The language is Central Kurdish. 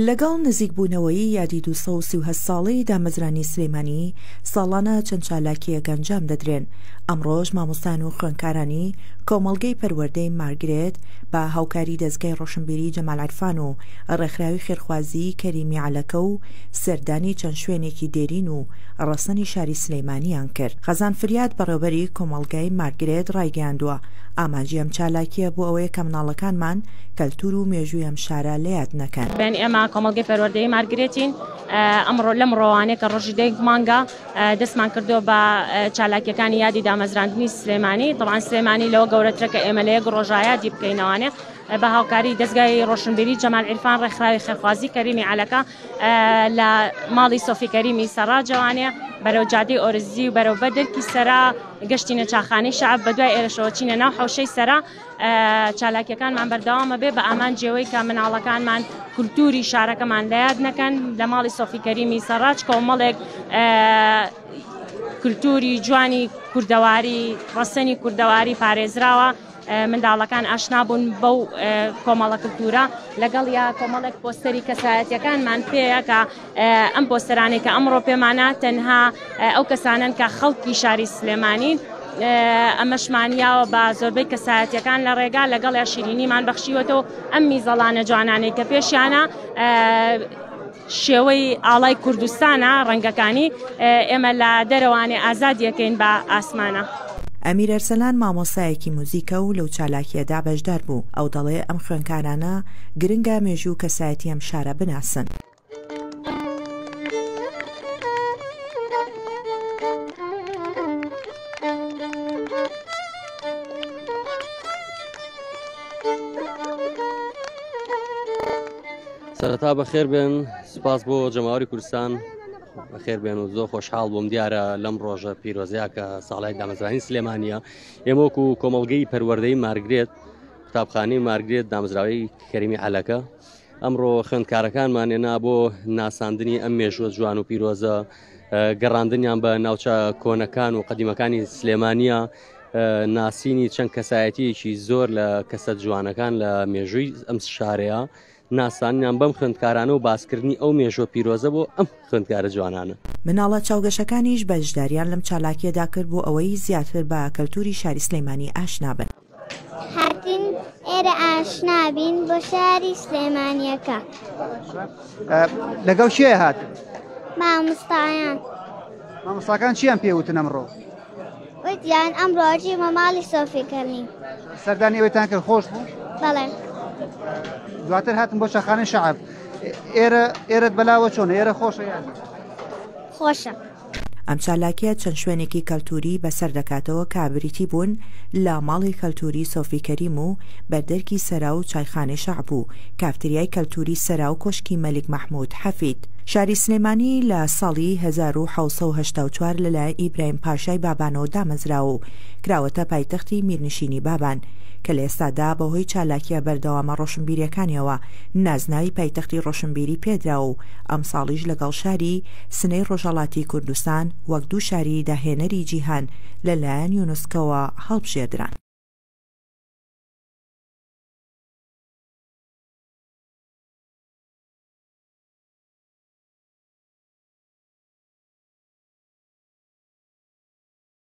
لەگەڵ نزیکبوونەوەی یادی دوو سەد و سی و هەشت ساڵەی دامەزرانی سلێمانی، ساڵانە چەند چالاکییەک ئەنجام دەدرێن، ئەمڕۆش مامۆستایان و خوێندکارانی کۆمەڵگەی پەروەردەی مارگرێت بە هاوکاری دەزگای ڕۆشنبیری جەمال عیرفان و ڕێکخراوی خێرخوازیی کەریمی عەلەکە و سەردانی چەند شوێنێکی دێرین و ڕەسەنی شاری سلێمانییان کرد. خەزان فریاد، بەڕێوەبەری کۆمەڵگای مارگرێت ڕایگەیاندووە، ئامانجی ئەم چالاکییە بۆ ئەوەیە کە مناڵەکانمان کەلتور و مێژووی ئەم شارە لە یاد نەکەن. بێن ئێمە کۆمەڵگەی پەروەردەی مارگرێتین ئەمڕۆ لەم ڕۆوانێ کە ڕۆژی دەیک مانگە دەستمان کردو بە چالاکیەکانی یادی دامەزراندنی سلێمانی طبعا سلێمانی لەوە گەورەترە کە ئێمە لە یەک ڕۆژایادی بکەینەوانێ بە هاوکاری دەستگای ڕۆشنبیری جەمال عرفان ڕێکخراوی خێرخوازی کەریمی عەلەکە لە ماڵی سۆفی کەریمی سەرا جوانێ بەرەو جادی ئۆرزی و بەرەو بەدرکی سەرا گەشتینە چاخانی شعب بە دوای ئێرەشەوە چینە ناو حەوشەی سەرا چالاکیەکانمان بەردەوامە بێ بە ئامانجی ئەوەی کە مناڵەکانمان کولتوری شارەکەمان لە یاد نەکەن لە ماڵی سۆفی کەریمی سەڕاج کۆمەڵێک کولتوری جوانی کوردەواری ڕەسەنی کوردەواری پارێزراوە منداڵەکان ئاشنا بوون بەو کۆمەڵە کللتورە لەگەڵ یا کۆمەڵێک پۆستەری کەسایەتەکانمان پێیەکە ئەم پۆستەرانەی کە ئەمڕۆ پێمانە تەنها ئەو کەسانن کە خەڵکی شاری سلێمانین ئەمەشمان یاوە بە زۆربەی کەسایەتەکان لە ڕێگا لەگەڵ یا شیرینیمان بەخشیوەتەوە ئەم میزەڵانە جوانانەی کە پێشیانە شێوەی ئاڵای کوردستانە ڕەنگەکانی ئێمە لە دەرەوانێ ئازادیەکەین بە ئاسمانە. ئەمیر ئەرسەلان مامۆستایەکی موزیکە و لەو چالاکییەدا بەشدار بوو، ئەو دەڵێ ئەم خوێنکارانە گرنگە مێژوو و کەسایەتی ئەم شارە بناسن، سەرەتا بەخێر بێن سپاس بۆ جەماوەری کوردستان بەخێر بێن و زۆر خۆشحاڵ بووم دیارە لەم ڕۆژە پیرۆزیا کە ساڵای دامەزرانی سلێمانە ئێمەکو و کۆمەلگەی پەروەردەی مارگرێت قوتابخانەی مارگرێت دامزراوی کەریمی عەلەکە ئەمڕۆ خوێندکارەکانمان هێنا بۆ ناساندنی ئەم مێژوە جوان و پیرۆزە گەڕاندنیان بە ناوچە کۆنەکان و قەدیمەکانی سلێمانە ناسینی چەند کەسایەتیەکی زۆر لە کەسە جوانەکان لە مێژووی ئەم شارەیە ناسانیان بەم خوندکارانە و باسکردنی ئەو مێژۆ پیرۆزە بۆ ئەم خوندکارە جوانانە مناڵە چاوگەشەکانیش بەشداریان لەم چالاکیەدا کرد بۆ ئەوەی زیاتر بە کەلتوری شاری سلەیمانی ئاشنابن. هاتین ئێرە ئاشنا بین بۆ شاری سلێمانیەکە. لەگەڵ شێ هات مامستایان مامۆستاکان چیان پێوتن ئەمڕۆ وتیان ئەم ڕۆژی مەماڵی سۆفیکەنی سەردانی ئەوێتان کرد خۆش بوو بەڵێ دواتر هاتم بۆ شەخانە شعب ئێرە ئێرەت بەلاوە چۆن ئێرە خۆشە خۆشە. ئەم چالاکیە چەند شوێنێکی کەلتوری بەسەر دەکاتەوە کە بریتی بوون لە ماڵی کەلتوری سۆفی کەریم و بەردەرکی سەرا و چایخانەی شەعب و کافتریای کەلتوری سەرا و کۆشکی مەلیک مەحمود حەفید شاری سلێمانی لە ساڵی هەزار و حەوت سەد و هەشتا و چوار لە لایەن ئیبراهیم پاشای بابانەوە دامەزراوە و کراوەتە پایتەختی میرنشینی بابان کە لە ئێستادا بە هۆی چالاکیە بەردەوامە ڕۆشنبیریەکانیەوە نازناوی پایتەختی ڕۆشنبیری پێدراوە و ئەمساڵیش لەگەڵ شاری سنەی ڕۆژهەڵاتی کوردستان وەک دوو شاری داهێنەری جیهان لە لایەن یونسکۆوە هەڵبژێردران.